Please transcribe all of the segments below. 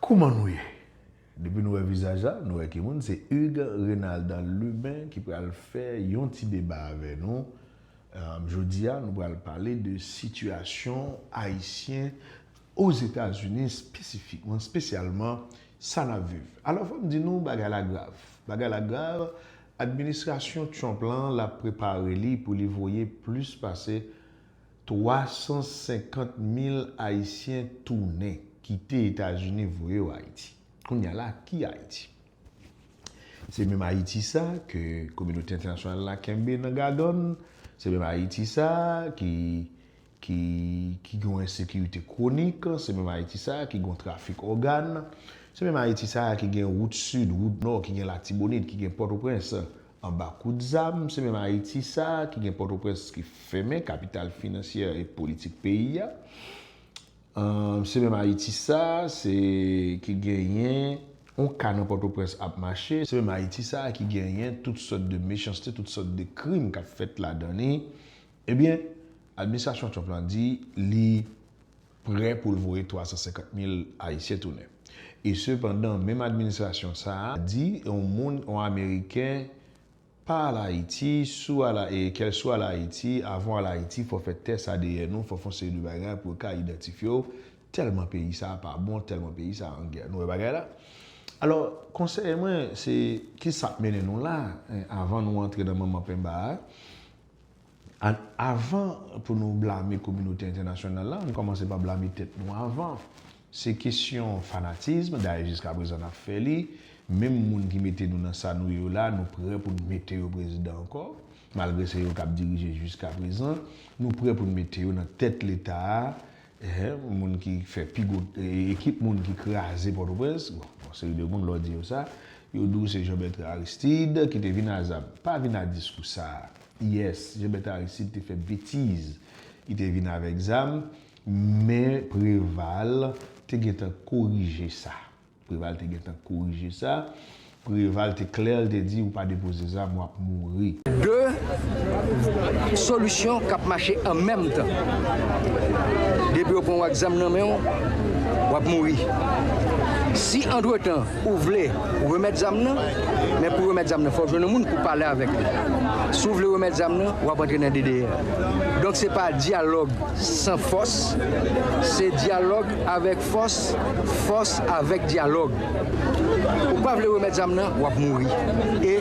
Kouman nou ye? Depi nou wè vizaj la, nou wè ki moun, se Hugues Renaldan Lubin ki pral fè yon ti deba avè nou. Jodi a, nou pral pale de sitiyasyon Ayisyen Ozetazini, espesifikman, espesyalman, sa n ap viv. Alò, fò m di nou, bagay la grav. Bagay la grav, administrasyon Trump lan, l ap prepare li pou li voye plis pase. 350 mil Ayisyen tounen, kite Etazini voye yo Ayiti. Kounye a la, ki Ayiti? Se menm Ayiti sa a ke kominote entènasyonal la kenbe nan gadòn, se menm Ayiti sa a ki ki gen yon ensekirite kwonik, se menm Ayiti sa a ki gen yon trafik ògàn, se menm Ayiti sa a ki gen wout sid, wout nò, ki gen Latibonit, ki gen Pòtoprens, Anba kout zam, se menm Ayiti sa a ki gen Pòtoprens ki fèmen, kapital finansyè e politik peyi a. Se menm Ayiti sa a se ki genyen yon ka nan Pòtoprens ap mache. Se menm Ayiti sa a ki genyen tout sòt de mechanste, tout sòt de krim k ap fèt ladan li. Ebyen, administrasyon Trump lan di li. prè pou l voye 350 mil ayisyen tounen. E sepandan menm administrasyon sa a di yon moun, yon ameriken pa al Ayiti, si w al e kèl si w al Ayiti, avan w al Ayiti fò w fè tès adn ou, fò w fè yon seri de bagay pou yo ka idantifye w, tèlman peyi sa a pa bon, tèlman peyi sa a an gè. Nou wè bagay la? Alò, konsèy mwen se ki sa k mennen nou la a? Avan nou antre nan manman penba a, An avan pou nou blame kominote entènasyonal la, ann kòmanse pa blame tèt nou avan. Se kesyon fanatism, dayè jiska prezan n ap fè li, menm moun ki mete nou nan sa nou ye yo la, nou prè pou n mete yo prezidan ankò, malgre se yo k ap dirije jiska prezan, nou prè pou n mete yo nan tèt leta a, Eeh moun ki fè pi gwo ekip moun ki kraze Pòtoprens, bon yon seri de moun lè w di yo sa, yo di w se Jean Bertrand Aristide ki te vin a zam. Pa vin a diskou sa. Yes, Jean Bertrand Aristide te fè betiz, li te vin avèk zam, men Preval te gentan korije sa. Preval te gentan korije sa. Preval te klè l te di ou pa depoze zam wap mouri. 2 solisyon kap mache an menm tan. Depi yo pran w ak zam nan men w, wap mouri. Si antretan ou vle remèt zam nan, men pou remèt zam nan fò w jwenn yon moun pou pale avèk li. Si w vle remèt zam nan, wap antre nan DDR. Donk se pa dyalòg san fòs, se dyalòg avèk. Fòs fòs avèk dyalòg. Ou pa vle remèt zam nan, wap mouri. E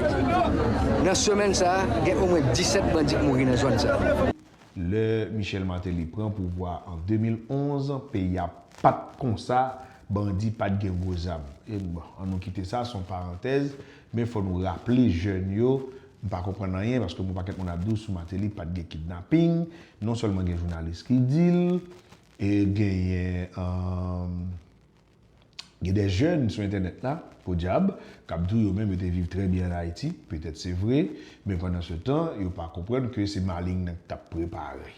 nan semèn sa a, gen omwen 17 bandi k mouri nan zòn sa a. Lè Michel Martelly pran pouvwa an 2011, peyi a pat konsa, bandi pat gen gwo zam. E bon, an nou kite sa, son parantèz, men fò nou raple jèn yo, m pa konprann anyen paske m wè pakèt moun ap di w sou Martelly pat gen kidnaping, non sèlman gen jounalis ki di l, E genyen Gen des jeunes sou entènèt la, podyab, k ap di w yo menm yo te viv trè byen an Ayiti, petèt se vre, men pandan se tan, yo pa konprann ke se maling nan ki t ap prepare.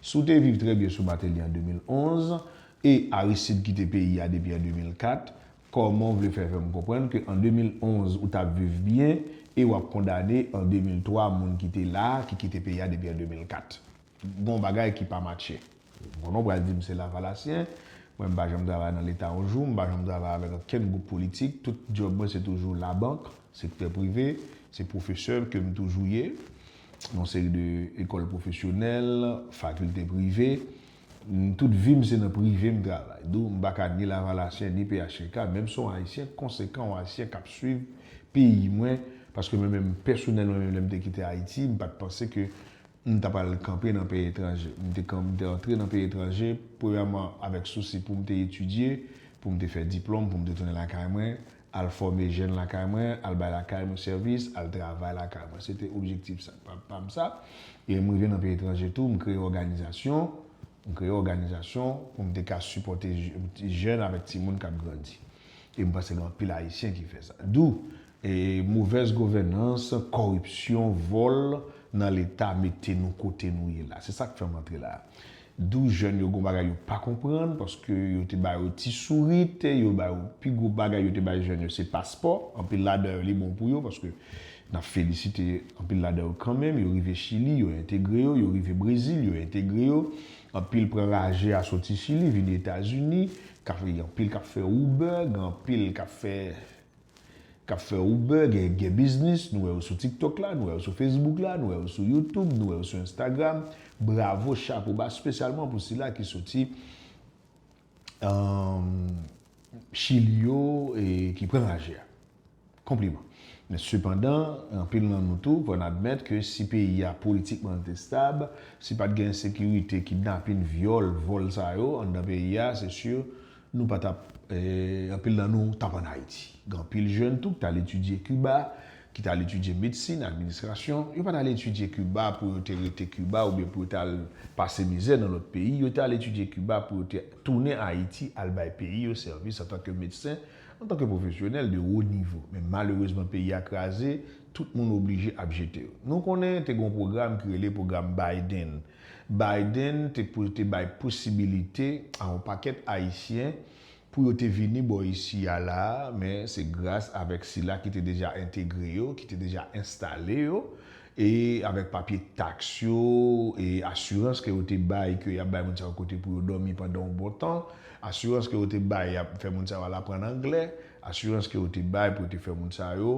Si w te viv trè byen sou Mateli an 2011, e Aristide kite peyi a depi an 2004, kòman w vle fè fè m konprann ke an 2011 ou t ap viv byen e w ap kondane an 2003 moun ki te la a, ki kite peyi a depi an 2004? Gon bagay ki pa matche. Bon nou pral dim se lavalasyen, mwen mpa janm travay nan leta yon jou, mpa janm travay avèk ankenn gwoup politik, tout djòb mwen se toujou labank, sektè prive, se pwofesè kem toujou ye, yon seri de ekòl pwofesyonèl, fakilte prive, tout vim se nan prive m travay. Dou mpa ka ni lavalasyen ni phtk, menm son ayisyen konsekan, yon ayisyen kap swiv peyi mwen, paske mwen menm pèsonèlman menm lèm te kite ayiti, mpat panse ke M ta pral kanpe nan peyi etranje. M te kan, m te antre nan peyi etranje, premyèman, avèk sousi pou m te etidye, pou m te fè diplòm, pou m te tounen lakay mwen, al fòme jèn lakay mwen, al bay lakay nou sèvis, al travay lakay mwen. Se te objektif sa, pa, pa m sa. E m rive nan peyi etranje tou, m kreye òganizasyon, m kreye òganizasyon pou m te ka sipòte jèn avèk timoun k ap grandi. E m panse gen anpil Ayisyen ki fè sa. Dou, Movèz govènans, kòripsyon, vòl nan leta mete nou kote nou ye la. Se sak fè m antre la. 12 jèn yo gon bagay yo pa konprann paske yo te ba yo ti sourit, yo ba yo pi gwo bagay yo te bay jèn yo se paspò. Anpil ladan yo li bon pou yo paske n ap felisite anpil ladan yo kanmenm. Yo rive Chili, yo entegre yo. Yo rive Brezil, yo entegre yo. Anpil pran raje a soti Chili vini Etazini. Anpil k ap fè Uber, gen anpil k ap fè. Kap fè Uber, gen yp gen biznis, nou wè yo sou tiktok la, nou wè yo sou facebook la, nou wè yo sou youtube, nou wè yo sou instagram, bravo chapo ba spesyalman pou sila ki soti chili yo e ki pran raje a. Konpliman. Men sepandan, anpil nan nou tou pran admèt ke si peyi a politikman te stab, si pat gen ensekirite, kidnapin, vyòl, vòl sa yo anndan peyi a, se sur Nou pa tap, anpil nan nou tap an Ayiti. Gen anpil jèn tou ki t al etidye Kiba, ki t al etidye medsin, administrasyon. Yo pa t al etidye Kiba pou yo te rete Kiba oubyen pou yo t al pase mizè nan lòt peyi. Yo te al etidye Kiba pou yo te tounen Ayiti al bay peyi yo sèvis antanke medsen, antanke pwofesyonèl de wo nivo. Men malerezman peyi a kraze, tout moun oblije ap jete yo. Nou konnen te gen yon pwogram ki rele pwogram Biden. Biden te pou l te bay posibilite a yon pakèt Ayisyen pou yo te vini bò isi a la a, men se gras avèk sila ki te deja entegre yo, ki te deja enstale yo, e avèk papye taks yo e asirans ke yo te bay ke y ap bay moun sa yo kote pou yo dòmi pandan yon bon tan, asirans ke yo te bay y ap fè moun sa yo al aprann anglè, asirans ke yo te bay pou yo te fè moun sa yo.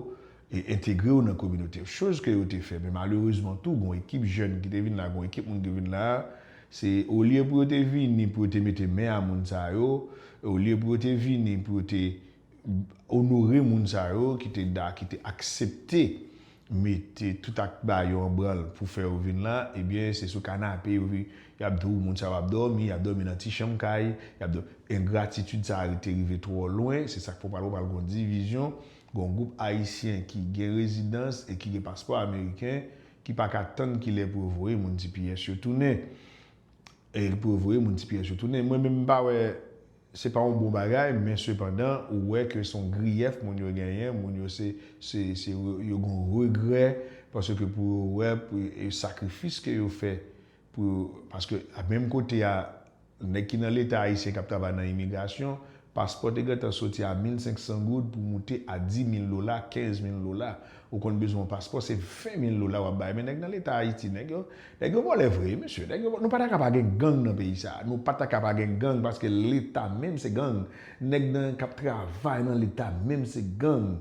e entegre yo nan kominote yo. Choz ke yo te fè, men malerezman tou gon ekip jèn ki te vin la, gon ekip moun ki vin la, se olye pou yo te vini pou yo te mete men a moun sa yo, olye pou yo te vini pou yo te onore moun sa yo ki te da, ki te aksepte mete tout ak ba yo an branl pou fè yo vin la, ebyen se sou kanape yo vi, y ap di w moun sa yo ap dòmi, y ap dòmi nan ti chanm kay, y ap dò, engratitid sa a te rive twò lwen, se sa k fè w pral wè pral gon divizyon, Gon gwoup Ayisyen ki gen rezidans e ki gen paspò ameriken ki pa ka tann ki lè pou yo voye moun tps yo tounen. E pou yo voye moun tps yo tounen. Mwen menm m pa wè se pa yon bon bagay men sepandan ou wè ke se yon griyèf moun yo genyen, moun yo se se se yo gon regrè paske pou yo wè pou yo e sakrifis ke yo fè pou yo paske a menm kote a Nèg ki nan leta ayisyen kap travay nan imigrasyon, paspò te gentan soti a 1500 goud pou moute a 10000 dola, 15000 dola. Ou konn bezwen yon paspò se 20000 dola wap bay men nèg nan leta ayiti nèg yo nèg yo vòlè vre wi mesye nèg yo vòlè nou pa ta ka pa gen gang nan peyi sa nou pa ta ka pa gen gang paske leta menm se gang nèg nan kap travay nan leta menm se gang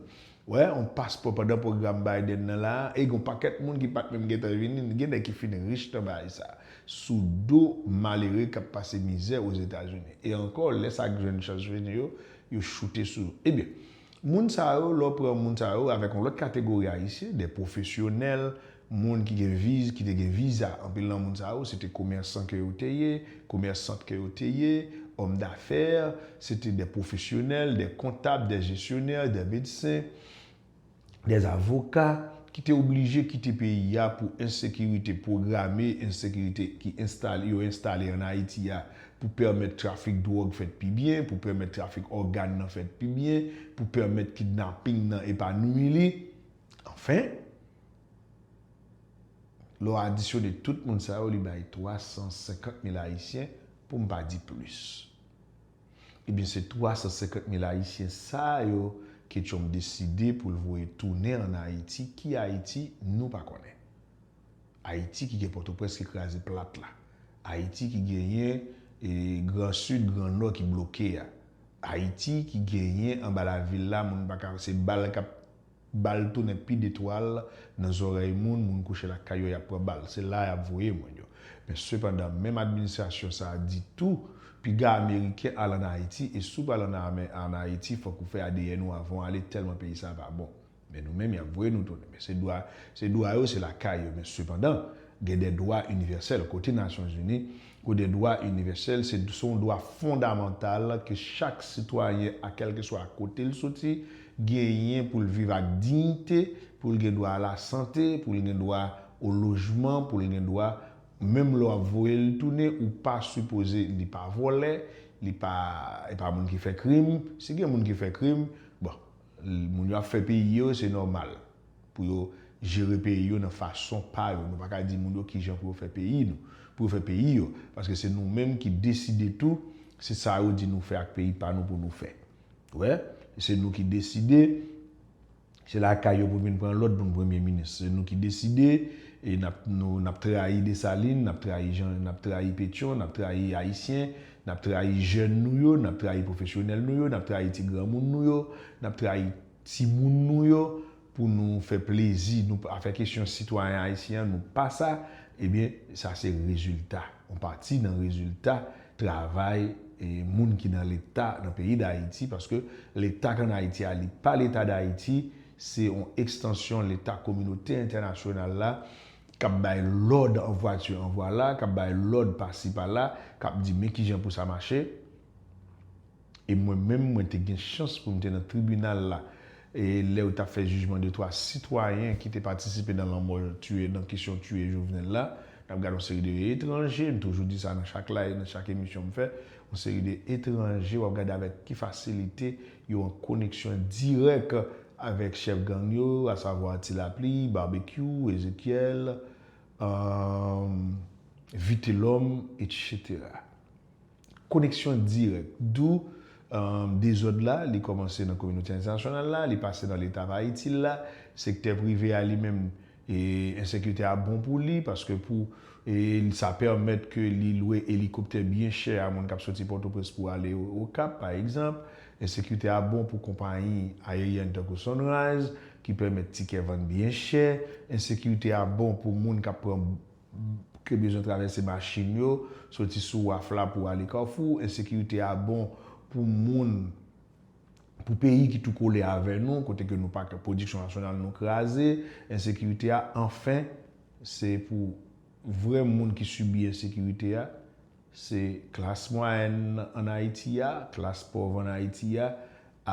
Wè yon paspò pandan pwogram Biden nan la a, e gen yon pakèt moun ki pa t menm gentan vini, gen nèg ki fin rich nan bagay sa a, sou do malere k ap pase mizè Ozetazini. E ankò, lè sa k jwenn chans vini yo, yo choute sou yo. Ebyen, moun sa yo, lè w pran moun sa yo avèk yon lòt kategori Ayisyen, dè pwofesyonèl, Moun ki gen viz, ki te gen viza, anpil nan moun sa yo, se te komèsan ke yo te ye, komèsant ke yo te ye, òm dafè, se te dè pwofesyonèl, dè kontab, dè jesyonè, dè medsen, dè avoka, ki te oblije kite peyi a pou ensekirite pwograme, ensekirite ki enstale, yo enstale an Ayiti a, pou pèmèt trafik dwòg fèt pi byen, pou pèmèt trafik ògàn nan fèt pi byen, pou pèmèt kidnaping nan epanouyi li. Anfen, lè w adisyone tout moun sa yo li bay 350 mil ayisyen pou m pa di plis. Ebyen se 350 mil ayisyen sa yo ke Trump deside pou l voye tounen an Ayiti, ki Ayiti nou pa konnen. Ayiti ki gen Pòtoprens ki kraze plat la, Ayiti ki genyen gran Sid, gran Nò ki bloke a, Ayiti ki genyen anba lavil la moun pa ka, se bal k ap Bal tounen pi de twal nan zòrèy moun, moun kouche lakay yo yap pran bal. Se la yap voye moun yo. Men sepandan, menm administrasyon sa a di tou, piga ameriken al an Ayiti e si w pral an ame an Ayiti fòk ou fè adn ou avan w ale tèlman peyi sa a pa bon. Men nou menm yap voye nou tounen. Men se dwa, se dwa yo, se lakay yo. Men sepandan, gen dè dwa inivèsèl. Kote Nasyonzini Kou de dwa inivèsèl, se yon dwa fondamantal ke chak sitwayen a kèlkeswa kote l soti genyen pou l viv ak diyite, pou l gen dwa a la sante, pou l gen dwa o lojman, pou l gen dwa menm lè w ap voye l tounen ou pa sipoze li pa vòlè, li pa e pa moun ki fè krim, si gen moun ki fè krim, bon. Moun yo ap fè peyi yo, se nòmal pou yo jere peyi yo nan fason pa yo. Nou pa ka di moun yo ki jan pou yo fè peyi nou, pou yo fè peyi yo. Paske se nou menm ki deside tou, se sa yo di nou fè ak peyi pa nou pou nou fè. Ou wè? Se nou ki deside, se lakay yo pou n vin pran lòd pou n premye minis. Se nou ki deside, e n ap trayi Desalin, n ap trayi Petyon, n ap trayi Ayisyen, N ap trayi jèn nou yo, n ap trayi pwofesyonèl nou yo, n ap trayi ti granmoun nou yo, n ap trayi timoun nou yo pou nou fè plezi nou pa fè kesyon sitwayen ayisyen an nou pa sa ebyen sa se rezilta yon pati nan rezilta travay moun ki nan leta nan peyi dayiti paske leta k ann ayiti a li pa leta dayiti se yon ekstansyon leta kominote entènasyonal la k ap bay lòd an vwati an vwala, k ap bay lòd pasi pala, k ap di men kijan pou sa mache. E mwen menm mwen te gen chans pou m te nan tribinal la lè yo t ap fè jijman de twa sitwayen ki te patisipe nan lanmò tiye nan kesyon tiye Jovenel la. N ap gade yon seri de etranje, m toujou di sa nan chak live, nan chak emisyon m fè, yon seri de etranje w ap gade avèk ki fasilite Yo an koneksyon dirèk avèk chèf gang yo, asavwa Ti Lapli, Barbecue, Ezekiel, Vitelòm, etc. Koneksyon dirèk. Dou dezòd la, li kòmanse nan kominote entènasyonal la, li pase nan leta pa itil la, sektè prive a li menm, E ensekirite a bon pou li paske pou e sa pèmèt ke li lwe elikoptè byen chè a moun k ap soti Pòtoprens pou ale Okap pa egzanp. Ensekirite a bon pou konpayi ayeryèn tankou Sunrise ki pèmèt tikè vann byen chè. Ensekirite a bon pou moun k ap pran ke bezwen travèse machin yo soti sou waf la pou ale Kafou. Ensekirite a bon pou moun. Pou peyi ki tou kole avè nou, kote ke nou pa ka, pwodiksyon nasyonal nou kraze, ensekirite a, anfen, se pou vrè moun ki sibi ensekirite a, se klas mwayèn an Ayiti a, klas pòv an Ayiti a,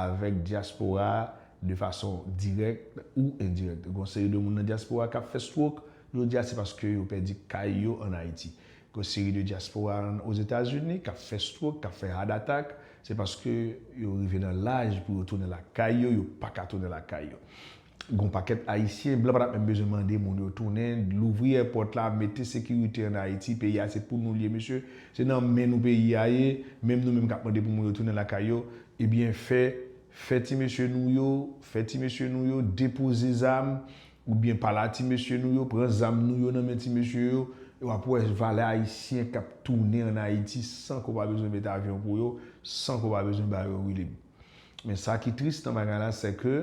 avèk dyaspora a, de fason dirèk ou endirèk. Gon seri de moun nan dyaspora a k ap fè strok, jodi a se paske yo pèdi kay yo an Ayiti. Gwo seri de dyaspora an Ozetazini k ap fè strok, k ap fè heart attack, se paske yo rive nan laj pou yo tounen lakay yo, yo pa ka tounen lakay yo. G'on pakèt Ayisyen, blan pa tap menm bezwen mande moun yo tounen, louvri èpòt la, mete sekirite an Ayiti, peyi a se pou nou l ye mesye, se nan men nou peyi a ye, menm nou menm k ap mande pou moun yo tounen lakay yo, ebyen fè, fè ti mesye nou yo, fè ti mesye nou yo depoze zam, Ou byen pala ti mesye nou yo pran zam nou yo nan men ti mesye yo e wap wè valè ayisyen kap tounen an ayiti san ke w pa bezwen met avyon pou yo san ke w pa bezwen ba yo wilib men sa ki tris nan bagay la se ke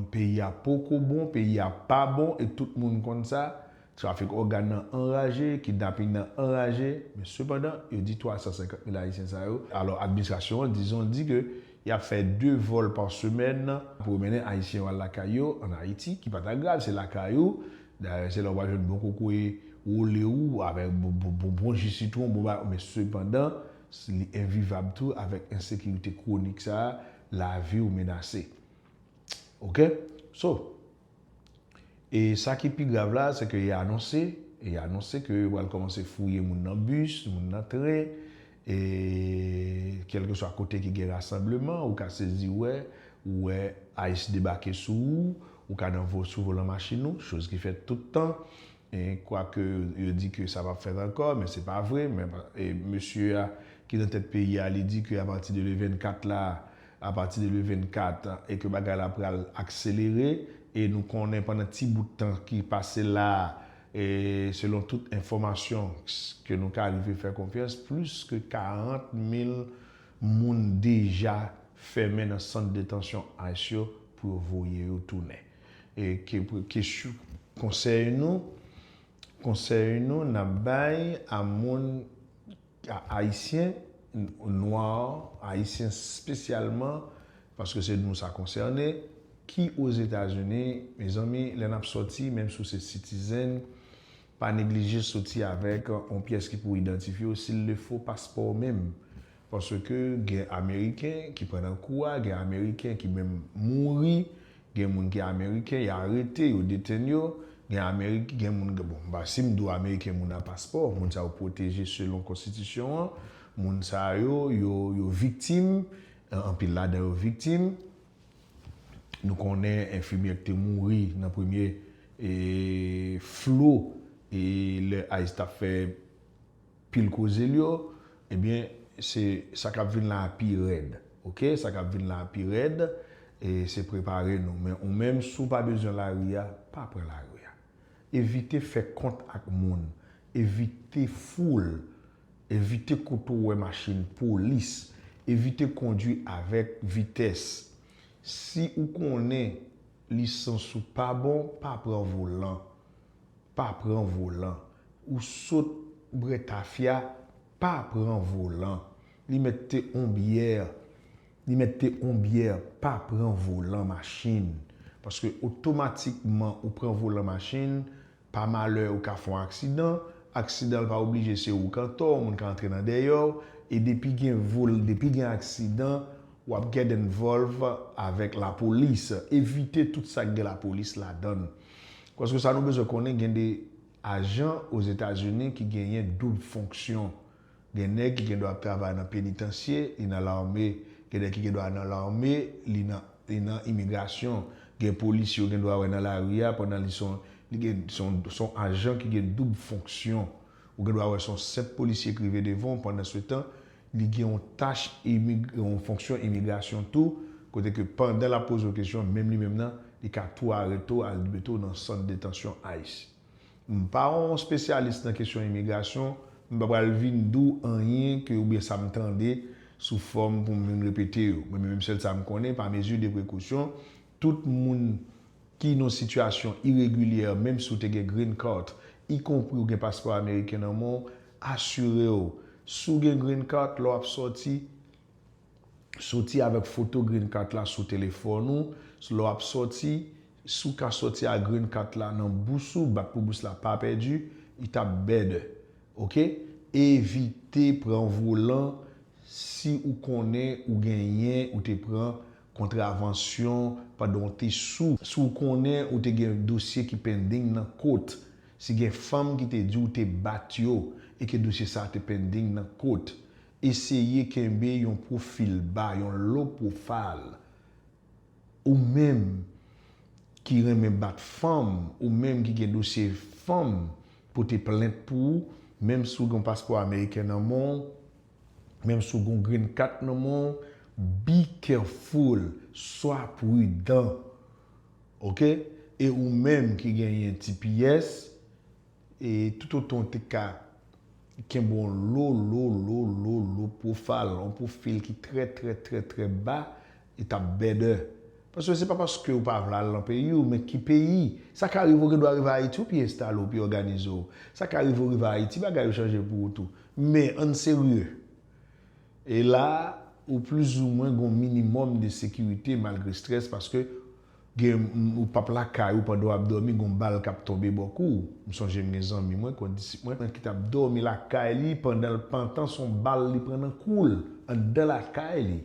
peyi a poko bon peyi a pa bon e tout moun konn sa Trafik ògàn nan anraje, kidnaping nan anraje, men sepandan, yo di 350 mil Ayisyen sa yo, alò administrasyon an dizon di ke y ap fè 2 vòl pa semèn pou yo mennen Ayisyen yo al lakay yo ann Ayiti, ki pa ta grav, se lakay ou, dayè se la ou pral jwenn bon kokoye wole ou avèk bon ji sitwon, bon bagay, men sepandan, li envivab tou avèk ensekirite kwonik sa a, lavi ou menase. Ok? So. E sa ki pi grav la, se ke y anonse, y anonse ke yo pral kòmanse fouye moun nan bis, moun nan tren, e kèlkeswa kote ki gen rasanbleman, ou ka sezi wè, ou wè ice debake sou ou, ou ka nan sou volan machin ou, choz ki fèt tout tan. Kwake yo di ke sa pap fèt ankò, men se pa vre, men mesye a ki nan tèt peyi a li di ke a pati de le 24 la, a pati de le 24 e ke bagay la pral akselere e nou konnen pandan ti bout tan ki pase la a e selon tout enfòmasyon ke nou ka rive fè konfyans plis ke 40 mil moun deja fèmen nan sant detansyon ice yo pou yo voye yo tounen. E ke kesyon konsèy nou, konsèy nou n ap bay a moun, a Ayisyen, nwa, Ayisyen spesyalman, paske se nou sa konsène, ki Ozetazini, mezanmi, lè n ap sòti, menm si w se sitizen, pa neglije sòti avèk yon pyès ki pou idantifye w, si l le fo, paspò w menm. Paske gen ameriken ki pran nan kou a, gen ameriken ki menm mouri, gen moun ki ameriken y arete, yo detenn yo, gen ameriken, gen moun, bon m pa, si m di w ameriken moun a paspò, moun sa yo pwoteje selon konstitisyon an, moun sa yo, yo, yo viktim, anpil ladan yo viktim, nou konnen enfimyè ki te mouri nan premye e flo e lè ice t ap fè Pil koze l yo ebyen se sa kap vin la a pi rèd ok sa kap vin la a pi rèd e se prepare nou men ou menm si w pa bezwen lari a pa pran lari a evite fè kont ak moun evite foul evite kote w wè machin polis evite kondwi avèk vitès si ou konnen lisans ou pa bon pa pran volan. Pa pran volan. Ou sot brè tafya, pa pran volan. Li mèt te on byè, li mèt te on byè, pa pran volan machin. Paske otomatikman ou pran volan machin, pa malè ou ka fon aksidan, aksidan pa oblije se ou k antò, moun ka antre nan dèyè w, e depi gen vol, depi gen aksidan, w ap get involve avèk lapolis. Evite tout sa k gen lapolis ladan l. Paske sa nou bezwen konnen gen de ajan ozetazini ki genyen doub fonksyon. Gen nèg ki gen dwa ap travay nan penitansye, li nan lame, gen nèg ki gen dwa nan lame, li nan li nan imigrasyon. Gen polisye ou gen dwa wè nan lari a pandan li son li gen son son ajan ki gen doub fonksyon. Ou gen dwa wè son senp polisye ki rive devan w pandansetan Li gen yon tach imig, yon fonksyon imigrasyon tou, kote ke pandan l ap poze w kesyon, menm li menm nan, li ka tou arete w al mete w nan sant detansyon ice. M pa yon spesyalis nan kesyon imigrasyon, m pa pral vin di w anyen ke oubyen sa m tande sou fòm pou m vin repete yo. Mwen menm sèl sa m konnen, pa mezi de prekousyon, tout moun ki nan sitiyasyon iregilyè, menm si w te gen green cart, ikonpri ou gen paspò ameriken nan men w, Asire w, si w gen Green Card, lè w ap sòti, sòti avèk foto Green Card la sou telefòn ou. Lè w ap sòti, si w ka sòti ak Green Card la nan bous ou, bat pou bous la pa pèdi, li t ap better. Ok. Evite pran volan si ou konnen ou genyen, ou te pran kontravansyon pandan w te sou. Si w konnen ou te gen dosye ki pending nan kot. Si gen fanm ki te di w te bat yo e ke dosye sa te pending nan kot, eseye kenbe yon pwofil ba, yon low profile. Ou menm ki renmen bat fanm, ou menm ki gen dosye fanm pote plent pou ou, menm si w gen yon paspò ameriken nan men w, menm si w gen yon green cat nan men w, be careful, swa prudan. Ok e ou menm ki genyen ti pyès e tout otan w te ka kenbe on lo lo lo lo lo pwofal on pwofil ki trè trè trè trè ba li tap bèdè paske se pa paske ou pa vle al lan peyi w men ki peyi sa ka rive ou gen dwa rive ayiti ou pi enstale ou pi òganize w sa ka rive ou rive ayiti bagay yo chanje pou ou tou men ann serye. E la a, ou plizoumwen gen yon minimòm de sekirite malgre strès paske gen ou pap lakay ou pandan w ap dòmi gen yon bal k ap tonbe bò kou w. M sonje m gen zanmi mwen, kondisip mwen, ki t ap dòmi lakay li pandan l pantan s on bal li pran nan kou l anndan lakay li.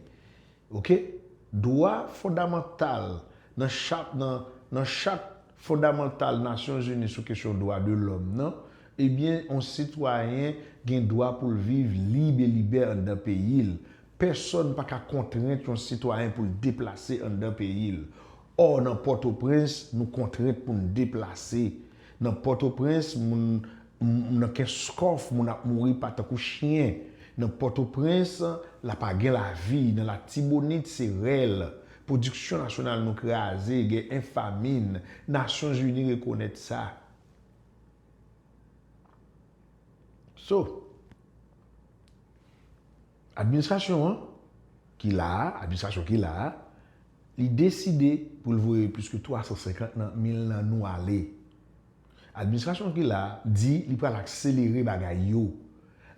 Ok. Dwa fondamantal nan chat nan nan chat fondamantal Nasyon Zini sou kesyon dwa de lòm nan, ebyen yon sitwayen gen dwa pou l viv lib e libè anndan peyi l. Pèsòn pa ka kontrent yon sitwayen pou l deplase anndan peyi l. Ò nan Pòtoprens nou kontrent pou n deplase. Nan Pòtoprens moun M nan Kenskòf moun ap mouri pa tankou chyen nan Pòtoprens la pa gen lavi nan Latibonit se rèl pwodiksyon nasyonal nou kraze gen en famin nasyon zini rekonèt sa so administrasyon an ki la a administrasyon ki la a li deside pou l voye plis ke 350 nan mil nan nou ale. Administrasyon ki la a di li pral akselere bagay yo.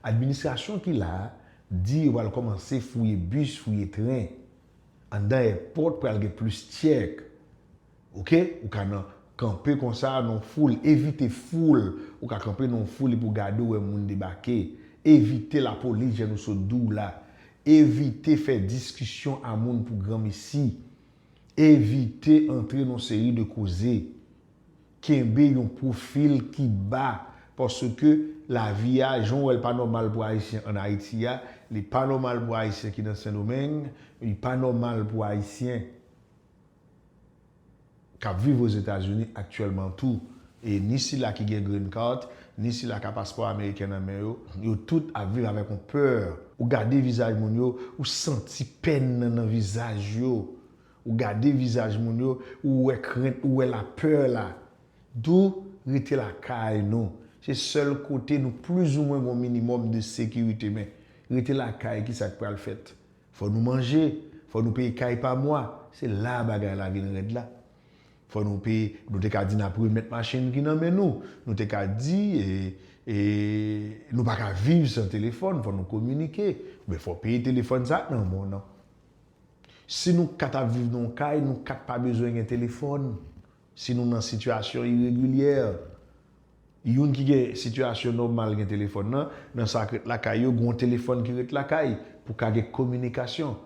Administrasyon ki la a di yo pral kòmanse fouye bis, fouye tren. Anndan èpòt pral gen plis tchèk. Ok, ou ka nan kanpe konsa nan yon foul, evite foul. Ou ka kanpe nan yon foul epi w gade w wè moun debake. Evite lapolis jan nou sot di w la. Evite fè diskisyon a moun pou granmesi. Evite antre nan yon seri de koze. Kenbe yon pwofil ki ba paske lavi a, jan w wè l pa nòmal pou Ayisyen ann Ayiti a, li pa nòmal pou Ayisyen ki nan Sendomeng, li pa nòmal pou Ayisyen k ap viv Ozetazini aktyèlman tou. E ni sila ki gen Green Card, ni sila ki a paspò ameriken nan men yo, yo tout ap viv avèk yon pè. Ou gade vizaj moun yo, ou santi pèn nan nan vizaj yo. Ou gade vizaj moun yo, ou wè krent, ou wè la peur la. D'où rete lakay nou. Se sèl kote nou plus ou mwen gon minimum de sécurité men rete lakay ki sak pral fèt. Fò nou manje, fò nou peye kay pa mwa, se la bagay la vin rèd la. Fò nou peye, nou te ka di n'ap remèt machin ki nan men nou, nou te ka di e nou pa ka viv san téléphone, fò nou kominike, men fò peye téléphone sa nan bon nan. Si nou 4 ap viv nan yon kay, nou 4 pa bezwen gen telefòn, si nou nan sitiyasyon iregilyè, youn ki gen sitiyasyon nòmal gen telefòn nan, nan sa k ret lakay yo, gen yon telefòn ki ret lakay pou ka gen kominikasyon.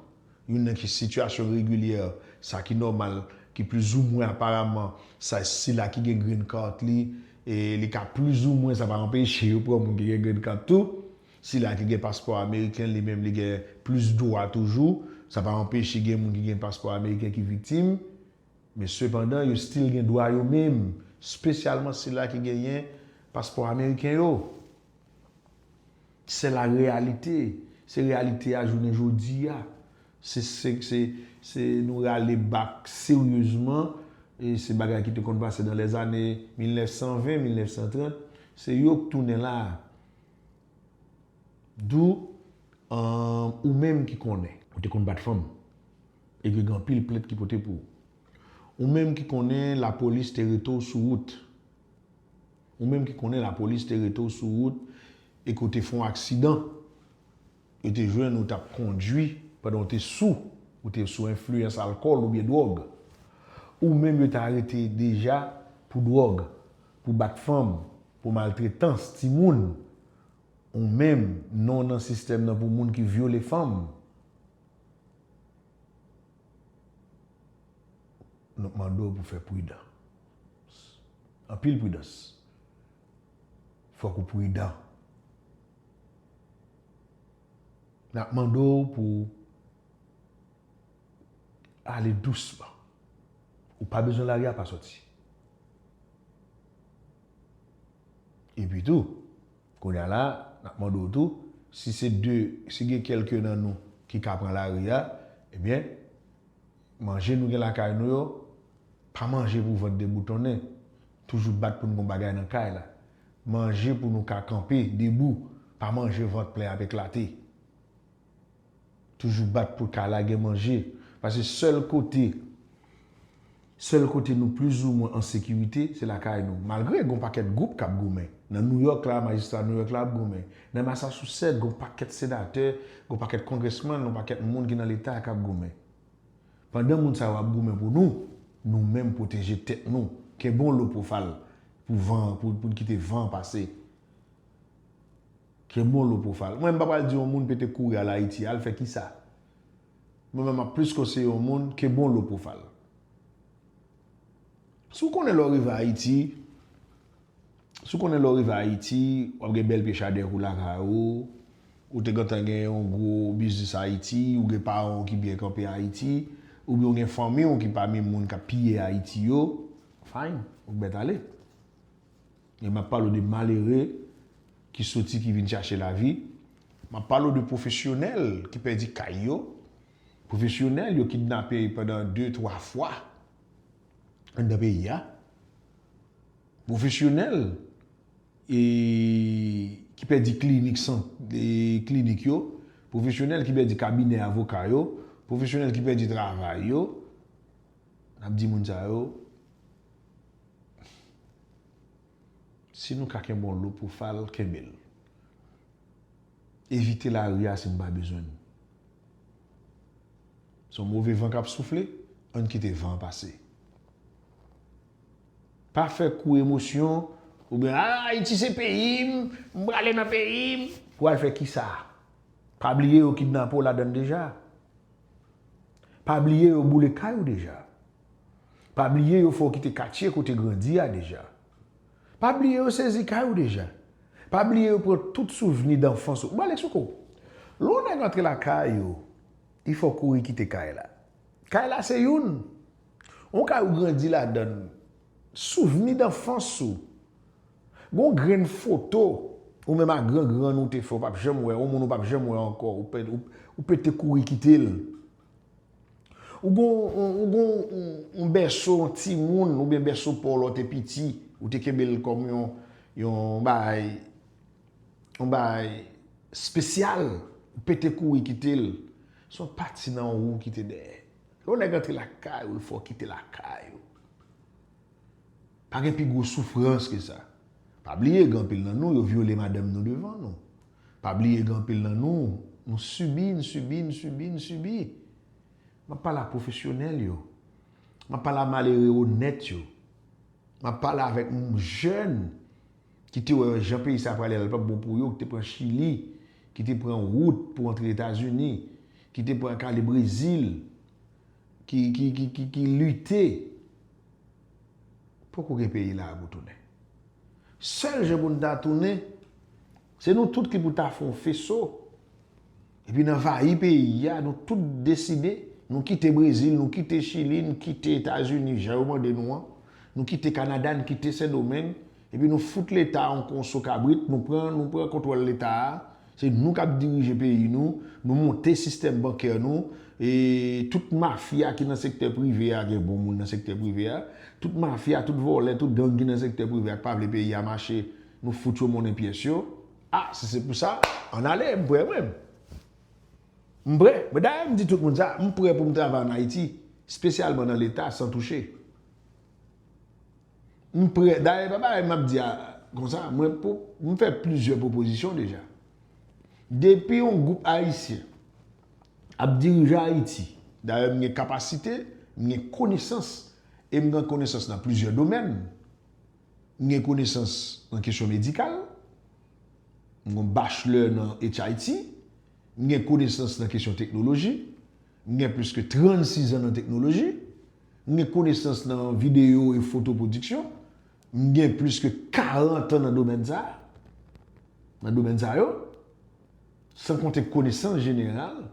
Youn nan ki sitiyasyon regilyè, sa ki nòmal, ki plizoumwen aparaman, sa sila ki gen green card li, li ka plizoumwen, sa pa anpeche yo pran moun ki gen green card tou. Sila ki gen paspò ameriken li menm li gen plis dwa toujou. Sa pa anpeche gen moun ki gen paspò ameriken ki viktim. Men sepandan yo stil gen dwa yo menm, spesyalman sila ki genyen paspò ameriken yo. Sè la reyalite. Se reyalite a jounen jodi a. Se se se se nou rale bak seryezman e se bagay ki te konn pase nan lèzane 1920, 1930. Se yo k tounen la. Do aah ou menm ki konnen. Ou te konn bat fanm. Epui gen anpil plent ki pote pou ou. Ou menm ki konnen lapolis te rete w sou wout. Ou menm ki konnen lapolis te rete w sou wout e ke w te fè yon aksidan. Yo te jwenn ou t ap kondui pandan w te sou, ou te sou enfliyans alkòl oubyen dwòg. Ou menm yo te arete deja pou dwòg, pou bat fanm, pou maltretans timoun. Ou menm, non w nan sistèm nan pou moun ki vyole fanm. Nou mande w pou fè pridan. Anpil pridans. Fòk ou pridan. N ap mande w pou w ale dousman. Ou pa bezwen lari a pa soti. Epi tou, kounye a la, n ap mande w tou, si se de, si gen kèlke nan nou ki ka pran lari a, ebyen, manje nou gen lakay nou yo, pa manje pou vant deboutonnen. Toujou bat pou n gen yon bagay nan kay la. Manje pou nou ka kanpe debou, pa manje vant plen ap eklate. Toujou bat pou kay la gen manje, pase sèl kote sèl kote nou plizoumwen an sekirite se lakay nou. Malgre gon pakèt gwoup kap goumen. Nan Nouyòk la, majistra Nouyòk la ap goumen. Nan Masasousèt, gon pakèt senatè, gon pakèt kongrèsmann, gon pakèt moun ki nan leta kap goumen. Pandan moun sa yo ap goumen pou nou, nou menm pwoteje tèt nou, kenbe yon lo po fal pou van an, pou n kite van an pase. Kenbe yon lo po fal. Mwen m pa pral di yon moun pete kouri al Ayiti, al fè kisa? Mwen menm m ap plis konseye yon moun kenbe yon lo po fal. Si w konnen lè w rive Ayiti, si w konnen lè w rive Ayiti, w ap gen bèl pye chadèk ou lakay ou, ou te gentan gen yon gwo biznis Ayiti, ou gen paran w ki byen kanpe Ayiti, oubyen w gen fanmi w ki pami moun k ap piye Ayiti yo, fine, ou k mèt ale. Men m ap pale w de malere ki soti, ki vin chache lavi, m ap pale w de pwofesyonèl ki pèdi kay yo, Pwofesyonèl yo kidnape pandan de twa fwa anndan peyi a. Pwofesyonèl e ki pèdi klinik san e klinik yo. Pwofesyonèl ki pèdi kabinè avoka yo. Pwofesyonèl ki pèdi travay yo. N ap di moun sa yo, si nou ka kenbe yon lopou fal, kenbe l. Evite lari a si n pa bezwen l. Se yon move van k ap soufle, ann kite van an pase. Pa fè kou emosyon oubyen a Ayiti se peyi m, m prale nan peyi m. Pou al fè kisa? Pa bliye yo kidnape w ladan l deja. Pa bliye yo boule kay ou deja. Pa bliye yo fè w kite katye kote grandi a deja. Pa bliye yo sezi kay ou deja. Pa bliye yo pran tout souvni danfans ou. M pale sou kou. Lè yon nèg antre lakay ou, li fè w kouri kite kay la. Kay la se youn. Yon kay ou grandi ladan l. Souvni danfans ou. Gen yon grenn foto ou menm ak grangrann ou te fè ou pap janm wè, yon moun ou pap janm wè ankò, ou pete kouri kite l. Ou gen yon bèso yon timoun ou byen bèso paw lè w te piti, ou te kenbe l kòm yon yon bagay yon bagay spesyal, ou pete kouri kite l, se yon pati nan ou ki te dèyè. Lè yon nèg antre lakay ou, fò w kite lakay ou. Pa gen pi gwo soufrans ke sa. Pa bliye gen anpil nan nou yo vyole madanm nou devan nou. Pa bliye gen anpil nan nou, nou sibi, n sibi, n sibi, n sibi. M ap pale a pwofesyonèl yo. M ap pale a malere onèt yo. M ap pale avèk jèn ki te wè jan peyi sa prale a li pa p bon pou yo, ki te pran Chili, ki te pran wout pou antre Etazini, ki te pran ak ale Brezil, ki lite. Poko gen peyi la a pou tounen. Sèl jan pou n ta tounen, se nou tout ki pou ta fè yon feso epi n anvayi peyi a, nou tout deside, nou kite Brezil, nou kite Chili, nou kite Etazini jan yo mande nou an, nou kite Kanada, nou kite Sendomeng, Epi nou fout leta yon konso kabrit nou pran nou pran kontwòl leta a se nou kap dirije peyi nou nou monte sistèm bankè nou e tout mafya ki nan sektè prive a gen bon moun nan sektè prive a tout mafya tout vòlè tout gang ki nan sektè prive a k pa vle peyi a mache nou fout yo monnen pyès yo a si se pou sa ann ale m prè mwen m prè mwen dayè m di tout moun sa m prè pou m travay ann Ayiti spesyalman nan leta san touche. M prè, dayè pa bagay m ap di a konsa, mwen pou, m fè plizyè pwopozisyon deja. Depi yon gwoup Ayisyen ap dirije Ayiti, dayè m gen kapasite, m gen konesans e m gen konesans nan plizyè domèn. M gen konesans nan kesyon medikal, m gen yon bachelè nan HIT, m gen konesans nan kesyon teknoloji, m gen plis ke 36 zan nan teknoloji, M gen konesans nan videyo e foto pwodiksyon. M gen plis ke 40 an nan domèn sa a, nan domèn sa yo. San konte konesans jeneral,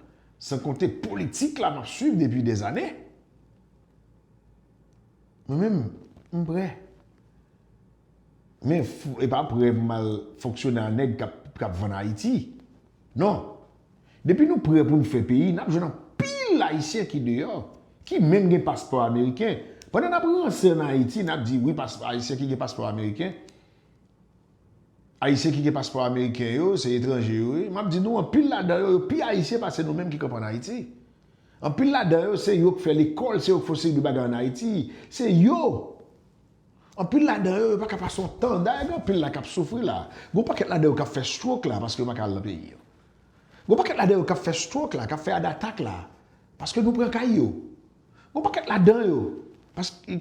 san konte politik la m ap swiv depi dè zane. Mwen menm, m prè. Men, e pa prè pou m al fonksyone a nèg k ap vann Ayiti. Non! Depi nou prè pou n fè peyi, n ap jwenn anpil Ayisyen ki deyò, ki menm gen paspò ameriken. Pandan n ap ranse an Ayiti, n ap di wi paspò Ayisyen ki gen paspò ameriken, Ayisyen ki gen paspò ameriken yo, se etranje yo ye. M ap di nou anpil ladan yo, yo pi Ayisyen pase nou menm ki kanpe an Ayiti. Anpil ladan yo, se yo k fè lekòl, se yo k fè yon seri de bagay an Ayiti. Se yo! Anpil ladan yo, yo pa ka pase yon tan. Dayè gen anpil la k ap soufri la. Gen yon pakèt ladan yo k ap fè stroke la paske yo pa ka al nan peyi yo. Gon pakèt ladan yo kap fè stroke la, kap fè heart attack la, paske nou pran kay yo. Gon pakèt ladan yo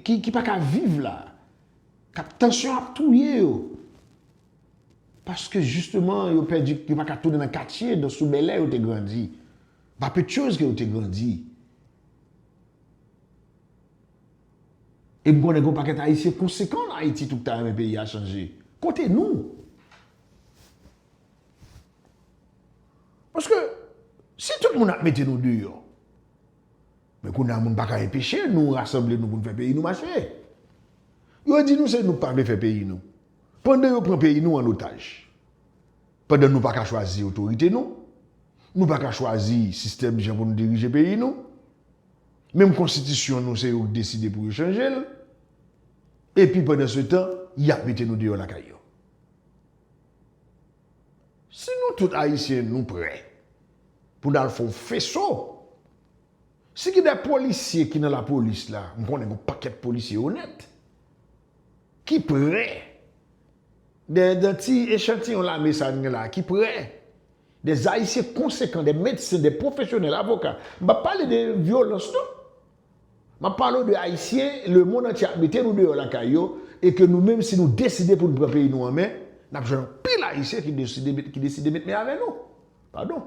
ki pa ka viv la, kap tansyon ap touye yo, paske jisteman yo pèdi, yo pa ka tounen nan katye nan sou Bèlè yo te grandi, Vapechòz ke yo te grandi. E m konnen gon pakèt Ayisyen konsekan an Ayiti tou ki ta renmen peyi a chanje. Kote nou? Paske si tout moun ap mete nou deyò, men kounye a moun pa ka enpeche nou rasanble nou pou nou fè peyi nou mache. Yo di nou se nou k pa vle fè peyi nou. Pandan yo pran peyi nou an otaj. Pandan nou pa ka chwazi otorite nou. Nou pa ka chwazi sistèm jan pou nou dirije peyi nou. Menm konstitisyon nou se yo k deside pou yo chanje l. Epi pandan se tan, y ap mete nou deyò lakay yo. Si nou tout ayisyen nou prè pou nal fon feso si gen de polisye ki nan lapolis la m konnen gon pakèt polisye onèt ki prè de de ti echantiyon lame sa n gen la ki prè de zayisyen konsekan de medsen de pwofesyonèl avoka m pap pale de vyolans non Map pale w de Ayisyen lemond antye ap mete nou deyò lakay yo e ke nou menm si nou deside pou n pran peyi nou an men, nap jwenn anpil Ayisyen ki deside met men avè nou. Padon.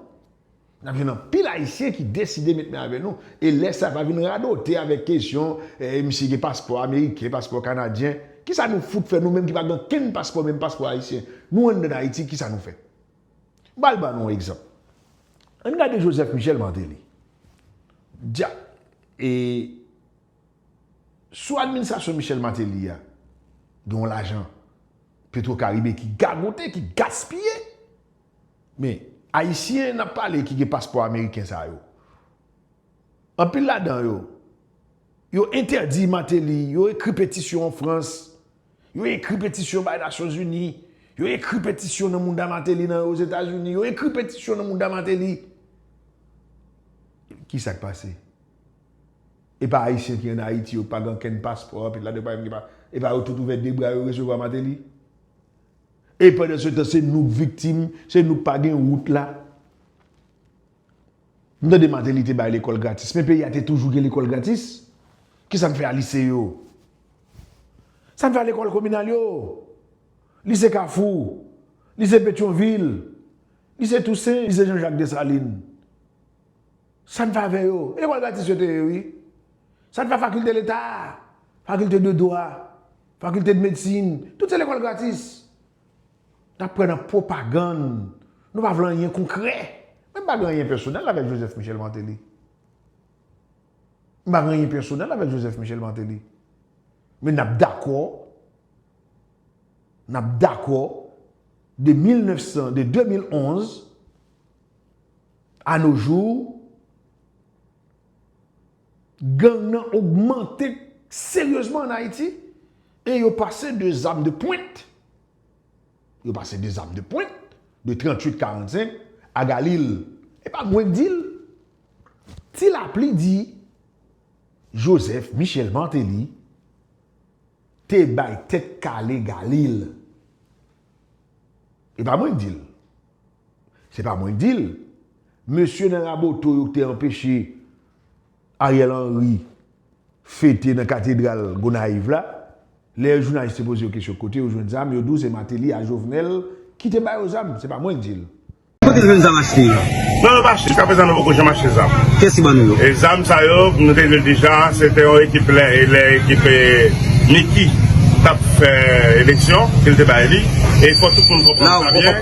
Nap jwenn anpil Ayisyen ki deside met men avè nou e lè sa pa vin radote avèk kesyon eh misye gen paspò ameriken, paspò kanadyen. Kisa nou fout fè nou menm ki pa gen okenn paspò menm paspò Ayisyen. Nou anndan Ayiti kisa nou fè? M pral ban nou yon egzanp. Ann gade Joseph Michel Martelly. Dja e sou administrasyon Michel Martelly a gen yon lajan Petro Caribe ki gagote, ki gaspiye. Men, Ayisyen n ap pale ki gen paspò ameriken sa yo, anpil ladan yo, yo entèdi Martelly, yo ekri petisyon an Frans. Yo ekri petisyon bay Nasyonzini. Yo ekri petisyon nan mouda Mateli nan Ozetazini. Yo ekri petisyon nan mouda Mateli. Ki sa k pase? E pa Ayisyen ki an Ayiti yo k pa gen ankenn paspò anpil ladan yo pa menm gen pa. E pa yo tout ouvè de bra yo resevwa Mateli? E pandan se tan se nou k viktim, se nou k pa gen wout la. M tande Martelly te bay lekòl gratis men peyi a te toujou gen lekòl gratis? Kisa n fè a lise yo? Sa n fè a lekòl kominal yo? Lise Kafou? Lise Petyonvil? Lise Tousen? Lise Jan Jak Desalin? Sa n fè avè yo? E lekòl gratis yo te ye wi. Sa n fè a fakilte leta? Fakilte de dwa? Fakilte de medsin? Tout se lekòl gratis. N ap pran nan pwopagann. Nou pa vle anyen konkrè. Mwen m pa gen anyen pèsonèl avèk Joseph Michel Martelly. M pa gen anyen pèsonèl avèk Joseph Michel Martelly. Men n ap dakò, n ap dakò de 1900, de 2011 a no jou, Gang nan ogmante seryezman an Ayiti e yo pase de zam de pwent, yo pase de zam de pwent de 38 45 a Galil. E pa mwen k di l. Ti Lapli di Joseph Michel Martelly te bay tèt kale Galil. E pa mwen k di l. Se pa mwen'k di'l. Mesye nan Raboto yo ki te anpeche Ariel Henry fete nan katedral Gonayiv la, lè jounalis te poze yo kesyon kote yo jwenn zam, yo di w se Mateli a Jovenel ki te ba yo zam. Se pa mwen'k di'l. Kote nou jwenn zam achte yo? Non yo pa achte, jiska prezan nou poko janm achte zam. Kiyès ki ban nou yo? E zam sa yo, nou te di l deja, se te yon ekip lè ekip Micky tap fè eleksyon, ke l te bay li. E fò tout moun konprann sa byen.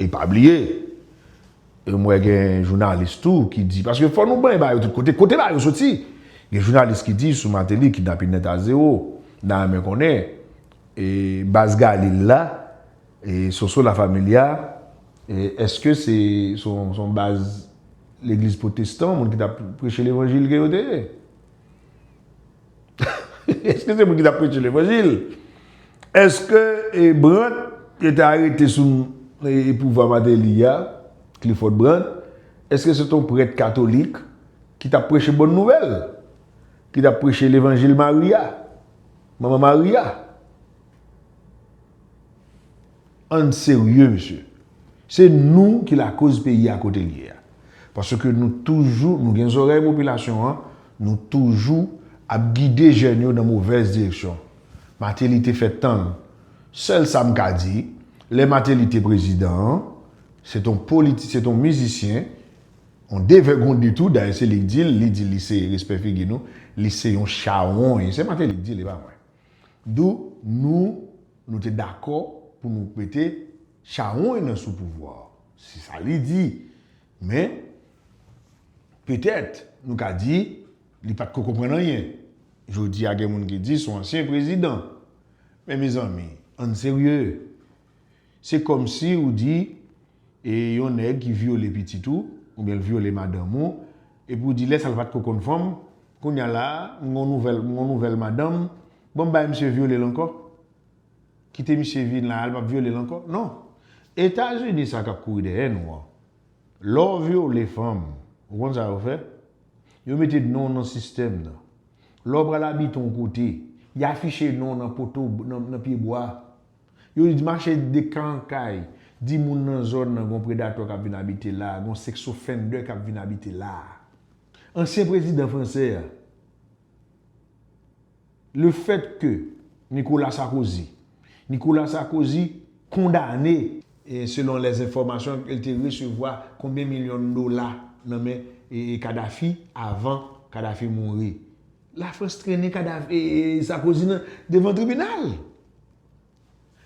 E pa bliye, m wè gen jounalis tou ki di, paske fò nou bay ba yo tout kote, kote ba yo soti? Gen jounalis ki di sou Mateli kidnapin nèt a zewo. M ta renmen konnen, e baz Galil la, e Soso La Familia, e eske se son baz legliz pwotestan, moun ki t ap preche levanjil ke yo te ye? Eske se mwen ki tap preche levanjil? Eske e Brandt yo te arete sou e pouvwa Mateli a, Clifford Brandt, eske se te yon prèt katolik ki tap preche bòn nouvèl? Ki tap preche levanjil Mari a, Manman Mari a? Ann serye mesye. Se nou ki lakoz peyi a kote l ye a. Paske nou toujou, nou gen zorèy popilasyon an, nou toujou ap gide jèn yo nan movèz direksyon. Mateli te fè tan l. Sèl sa m ka di, lè Mateli te prezidan an, se t on politi, se t on mizisyen, on devègonde tou, dayè se li k di l, li di li se, respè figi nou, li se yon chawony. Se Mateli k di l, e pa mwen. Dou nou nou te dakò pou nou mete chawony nan sou pouvwa a. Se sa li di. Men, petèt, nou ka di, li pa t ko konprann anyen. Jodi a gen moun ki di son ansyen prezidan. Men mezanmi, ann serye. Se kòmsi ou di e yon nèg ki vyole pitit ou, oubyen l vyole madanm ou, epi ou di lè sa l pa t ko konn fanm, kounye a la a, m gen yon nouvèl, m gen yon nouvèl madanm, bon m bay misye vyole l ankò? Kite misye vin la a, l p ap vyole l ankò? Non. Etazini sa k ap kouri dèyè nou an, lè w vyole fanm, ou konn sa yo fè? Yo mete non w nan sistèm nan. Lè w pral abite yon kote, y afiche non w nan poto, nan pyebwa. Yo mache de ka an kay, di moun nan zòn nan gon predatò kap vin abite la, gon seks ofendè kap vin abite la. Ansyen prezidan fransè a, le fèt ke Nikola Sakozy, Nicolas Sarkozy, kondane, selon lè enfòmasyon ke l te resevwa konbyen milyon dola nan men Kadafi avan Kadafi mouri La France trennen kadav Sarkozy nan devan tribinal.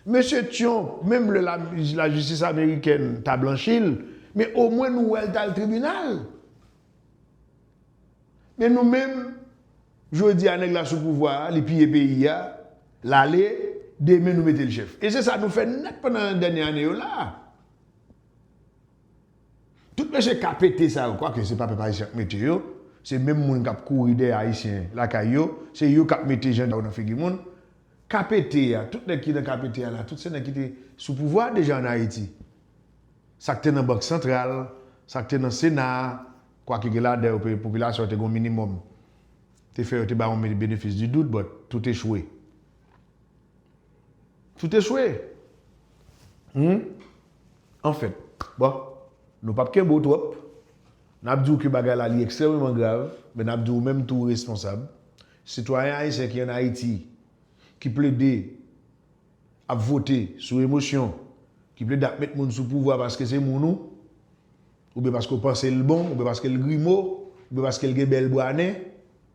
Mesye Tyonp, menm lè la jistis amerikèn ta blanchi l, men o mwen nou wè l t al tribinal. Men nou menm, jodi a nèg la sou pouvwa a, li piye peyi a, l ale, demen nou mete l chèf. E se sa nou fè nèt pandan dènye ane yo la a. Tout mesye KPT sa yo, kwake se pa pèp Ayisyen k mete yo, se menm moun k ap kouri dèyè Ayisyen lakay yo, se yo k ap mete jan yo nan figi moun. KPT a, tout nèg ki nan KPT a la, tout se nèg ki te sou pouvwa a deja an Ayiti. Sa k te nan Bank Santral, sa k te nan Sena a, kwake gen ladan yo ke popilasyon an te gen yon minimòm, te fè yo te ba yon benefis di dout, but tout echwe. Tout echwe! Humm. Anfen, bon, nou pap kenbe w twòp. N ap di w ke bagay la li ekstrèmeman grav, men n ap di w menm tou ou responsab. Sitwayen ayisyen ki an Ayiti, ki plede ap vote sou emosyon, ki plede ap met moun sou pouvwa paske se moun ou, oubyen paske w panse l bon, oubyen paske l grimo, oubyen paske l gen bèl bwa nen,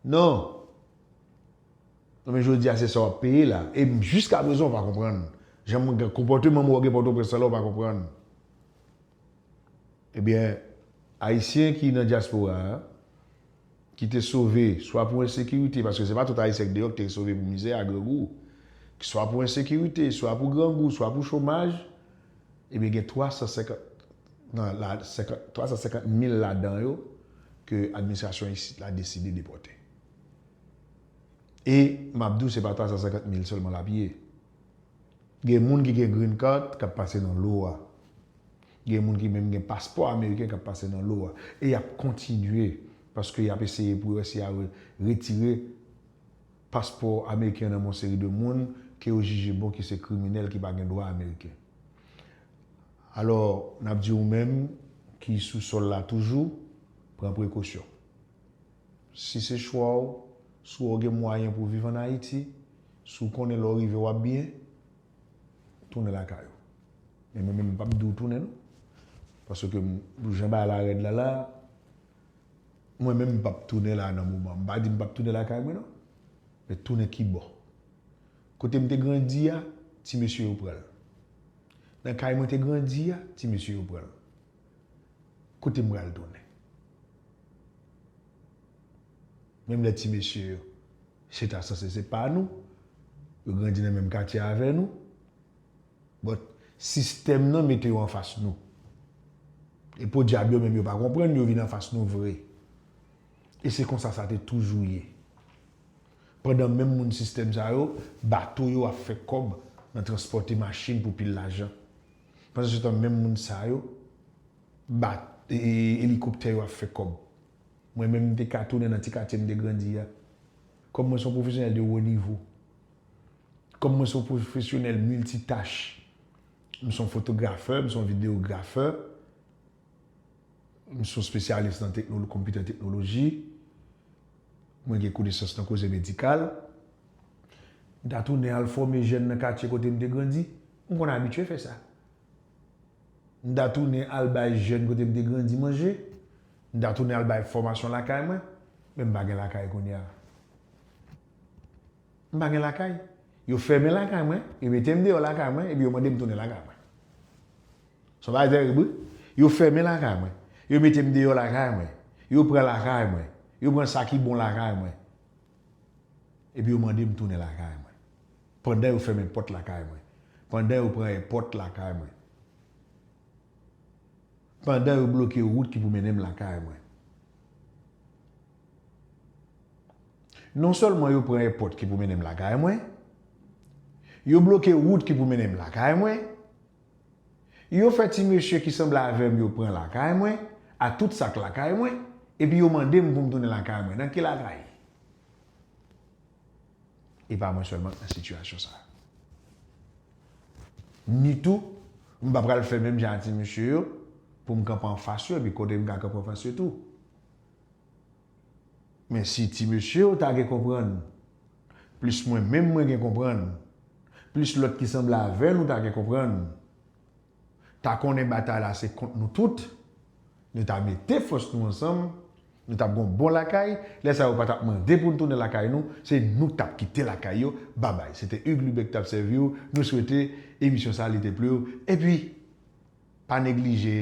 non! Non men jodi a se sa wap peye la e jiska prezan ou pa konprann jan moun gen konpòteman moun wap gen pòtoprens lan la ou pa konprann ebyen ayisyen ki nan dyaspora ki te sove swa pou ensekirite paske se pa tout ayisyen ki deyò ki te sove pou mizè a grangou ki swa pou ensekirite swa pou grangou swa pou chomaj ebyen gen 350 nan la 50 350 mil ladan yo ke administrasyon isit la deside depòte. E m ap di w se pa 350 mil sèlman l ap ye. Gen moun ki gen green card k ap pase nan lo a. Gen moun ki menm gen paspò ameriken k ap pase nan lo a. E y ap kontinye paske y ap eseye pou yo wè si y a retire paspò ameriken yo nan men yon seri de moun ke yo jije bon ki se kriminèl ki pa gen dwa ameriken. Alò, n ap di ou menm ki sou sòl la toujou, pran prekosyon. Si se chwa w, si wè w gen mwayen pou w viv an Ayiti, si w konnen lè w rive w ap byen, tounen lakay ou. Men mwen menm m pap di w tounen non. Paske pou jan bagay la rèd la la, mwen menm m pap tounen la nan moman an. M pa di m pap tounen lakay mwen non. Men tounen ki bò? Kote m te grandi a, ti mesye yo pran l. Nan kay mwen te grandi a, ti mesye yo pran l. Kote m pral tounen? Menm lè ti mesye yo se ta sanse se pa nou, yo grandi nan menm katye avè nou, but sistèm nan mete yo anfas nou. E podyab yo menm yo pa konprann yo vin anfas nou vre. E se konsa sa te toujou ye. Pandan menm moun sistèm sa yo, bato yo ap fè kòb nan transpòte machin pou pil lajan. Pandan se tan menm moun sa yo bat elikoptè yo ap fè kòb. Mwen menm m te ka tounen nan ti katye m te grandi a. Kòm mwen se yon pwofesyonèl de wo nivo, kòm mwen se yon pwofesyonèl miltitach, m se yon fotografè, m se yon videografè, m se yon spesyalis nan konpitè teknoloji, mwen gen konesans nan koze medikal, m ta tounen al fòme jèn nan katye kote m te grandi. M konn abitye fè sa. M ta tounen al bay jèn kote m te grandi manje, m ta tounen al bay fòmasyon lakay mwen, men m pa gen lakay kounye a. M pa gen lakay. Yo fèmen lakay mwen, yo mete m deyò lakay mwen epi yo mande m tounen lakay mwen. Sa pa tèrib wi. Yo fèmen lakay mwen, yo mete m deyò lakay mwen, yo pran lakay mwen, yo pran sa ki bon lakay mwen epi yo mande m tounen lakay mwen. Pandan yo fèmen pòt lakay mwen. Pandan yo pran èpòt lakay mwen. Pandan yo bloke wout ki pou mennen m lakay mwen. Non sèlman yo pran èpòt ki pou mennen m lakay mwen, yo bloke wout ki pou mennen m lakay mwen, yo fè ti mesye ki sanble avè m yo pran lakay mwen, a tout sa k lakay mwen, epi yo mande m pou m tounen lakay mwen. Nan ki lakay? E pa mwen sèlman k nan sitiyasyon sa. Ni tou, m pa pral fè menm jan a ti mesye yo pou m kanpe anfas yo epi kote m ka kanpe anfas yo tou. Men si ti mesye yo ta gen konprann, plis mwen menm mwen gen konprann, plis lòt ki sanble avè nou ta gen konprann, ta konnen batay la se kont nou tout, nou ta mete fòs nou ansanm, nou tap gon bon lakay, lè sa yo pa tap mande poun tounen lakay nou, se nou k tap kite lakay yo, babay. Se te Hugues Lubin ki tap sèvi w, nou swete emisyon sa li te plu w, epi pa neglije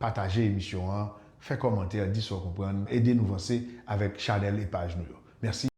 pataje emisyon an, fè kòmantè, di sa w konprann, ede nou vanse avèk chanèl e paj nou yo. Mèsi.